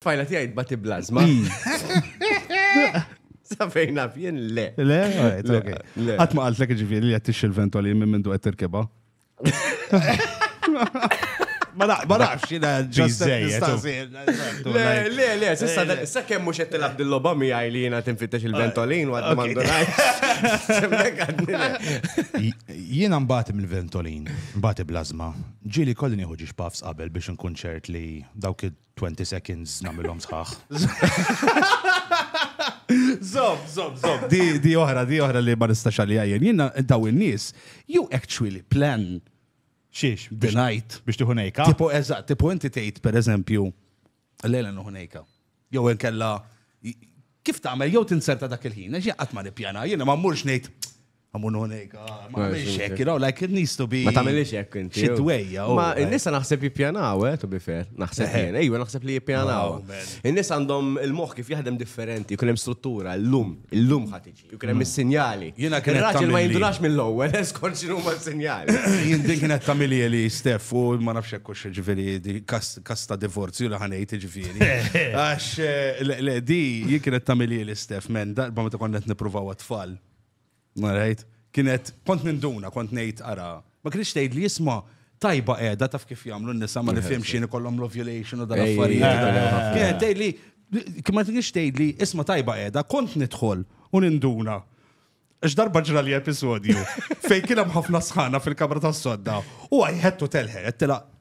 Fajla tiegħi tbati blażma. Sa fejn naf jien le. Le, alright, Le, ok. le. Qatt ma qaltlek ġifieri li qed tixxi l-ventoli minn mindu qed tirkibha. Ma naq- ma naqx jiena ġust qed Biżżejjed, nistaqsi. Le, le, le, sissa da- sa kemm mhux qed tilgħab dil-logħba miegħi li jiena tinfittex il-ventolin u għad ma ndunajx. Semmek għadni le. Jiena mbagħad mill-ventolin, mbagħad blażma. Ġieli kolli nieħu ġiex puffs qabel biex nkun ċert li dawk id- 20 seconds namilhom sħaħ. Zob, zob, zob. Di oħra, di oħra li ma nistax għalija jien. Jiena daw in-nies, you actually plan xiex the night biex tiħu nejka. Tipo eżatt, tipo inti tgħid pereżempju lejla nuħu nejka. Jew inkella kif tagħmel jew tinserta dak il-ħin, għax qatt ma nippjana, jiena ma mmurx ngħid Għamun unik, ah, ma għamilx hekk, you know, like it needs to be. Ma tagħmilx hekk inti. Xi dwejja. Oh, ma eh. n-nisa naħseb jippjanaw, eh, to be fair. Naħseb eh. jien, ejwa naħseb li jippjanaw. Oh, in-nies għandhom il-moħħ kif jaħdem differenti, jkun hemm struttura, l-lum, il-lum ħatiġi, jkun hemm mm. is-sinjali. Jiena kien raġel ma jindunax mill-ewwel, eskort x'inhu ma sinjali. Jien din kienet tagħmilija li Stef u ma nafx hekk hux ġifieri kasta divorzju li ħanejt ġifieri. Għax eh, le di jien kienet tagħmilija li Stef men darba meta konna qed nippruvaw għat-tfal Marajt, kienet, kont ninduna, kont nejt ara, ma kienx tgħid li jisma tajba qiegħda taf kif jagħmlu n-nisa ma nifhimx x'in ikollhom l-ovulation u dan affarijiet. Kienet tgħid li ma kienx tgħid li isma tajba qiegħda kont nidħol u ninduna. Għax darba ġra li episodju fejn kien hemm ħafna sħana fil-kamra tas-sodda u għajħettu telħet tilaq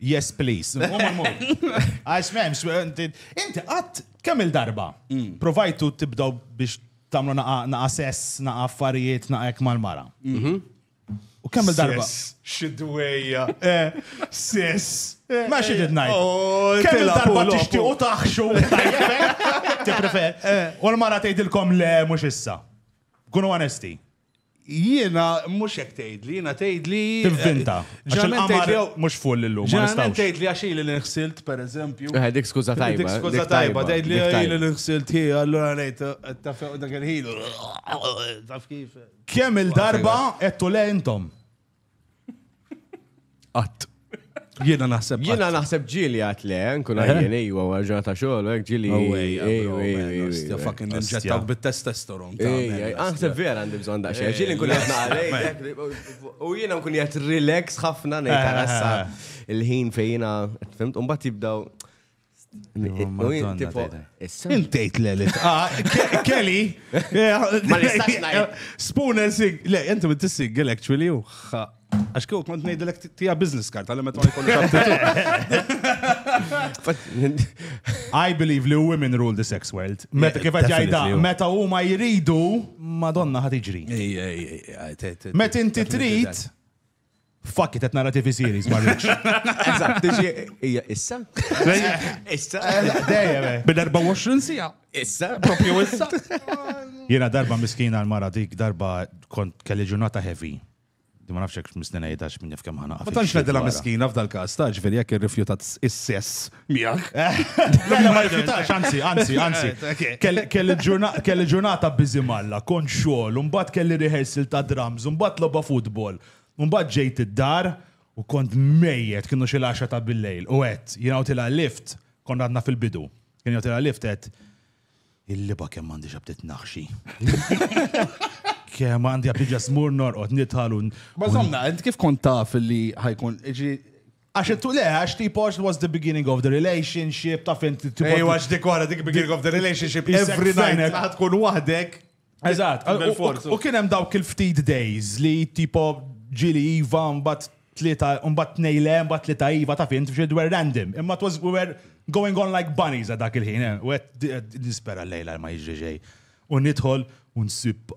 Yes, please. Għax memx, inti għat kemm il-darba. Mm. Provajtu tibdaw biex tamlu naqa sess, naqa affarijiet, naqa ek mal-mara. Mhm. U kemm il-darba? Xidwejja. Eh, sess. Eh, Ma xidid eh, najt. Oh, kemm il-darba tixti u taħxu. Ti prefer. U l-mara tgħidilkom le mhux issa. Kunu onesti. Jiena mhux hekk tgħidli, jiena tgħidli. Tivvinta. Għax il-qamar mhux full illum. Ġeneralment tgħidli għax ili li nħsilt, pereżempju. Eh, dik skuża tajba. Dik skuża tajba, tgħidli ili li nħsilt hi, allura ngħid eh, taf dak il-ħin. Taf kif. Kemm il-darba qed le intom? Qatt. Jiena naħseb. Jiena naħseb ġili għat le, nkun eh? għajjen ejwa għarġa ta' xogħol, hekk ġili. Ewwa, fucking ninġettaw bit-testosteron. Naħseb vera għandi bżonn daqsxejn. Eh, ġili nkun qed u jiena nkun qed relax ħafna ngħid eh, il-ħin fejjina, fimt, u mbagħad jibdaw Intejt le li ah, Kelly. Ma nistax ngħid. Spoon and sing. Le, inti bint single actually u Għax kieku kont ngħidilek tija business card għal meta ma jkollu I believe li women rule the sex world. Meta kif qed jgħidha, meta huma jridu, Madonna ħad iġri. Meta inti trid, Fuck it, qed nara TV series ma rridx. Eżatt, tiġi hija issa? Issa? Dejjem. Eh. Bil-24 sija. Issa? Propju issa? Jiena darba miskina l-mara dik, darba kont kelli ġurnata heavy. Di ma nafxek misnina jidax minn jaf kemm ħana. Ma tantx nedila miskina f'dal-każ, ta' ġifieri jekk irrifjutat is-sess Miegħek. Mela ma rifjutax, anzi, anzi, anzi. Kelli ġurnata biżi malla, kont xogħol, mbagħad kelli rehearsal ta' drums, mbagħad logħba futbol, mbagħad ġejt id-dar u kont mejjet kienu xi laxa ta' bil-lejl u għedt jien għawtilha lift kont għadna fil-bidu. Kien jgħawtilha lift għedt il-liba kemm għandi xabtit naħxi. Kemm għandi għabdi ġasmur norqod nitħalun. Bażonna, kif kont taf li ħajkun, Għax it le, għax tipo it was the beginning of the relationship, taf inti tipo. Ej, għax dik wara dik beginning of the relationship, every night għad tkun wahdek. Eżat, u kien hemm dawk il-ftit days li tipo ġili iva mbatt tlita, mbatt nejle, mbatt tlita iva, taf inti fxid were random. Imma it was, we were going on like bunnies għad dak il-ħin, eh. u għed nispera l-lejla ma jġiġej. U nidħol, u nsib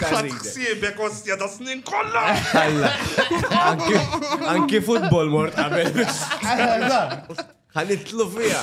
Ħadd ħsiebek ostja da snin kollha! Anki futbol mort qabel. Ħa nitlu fiha.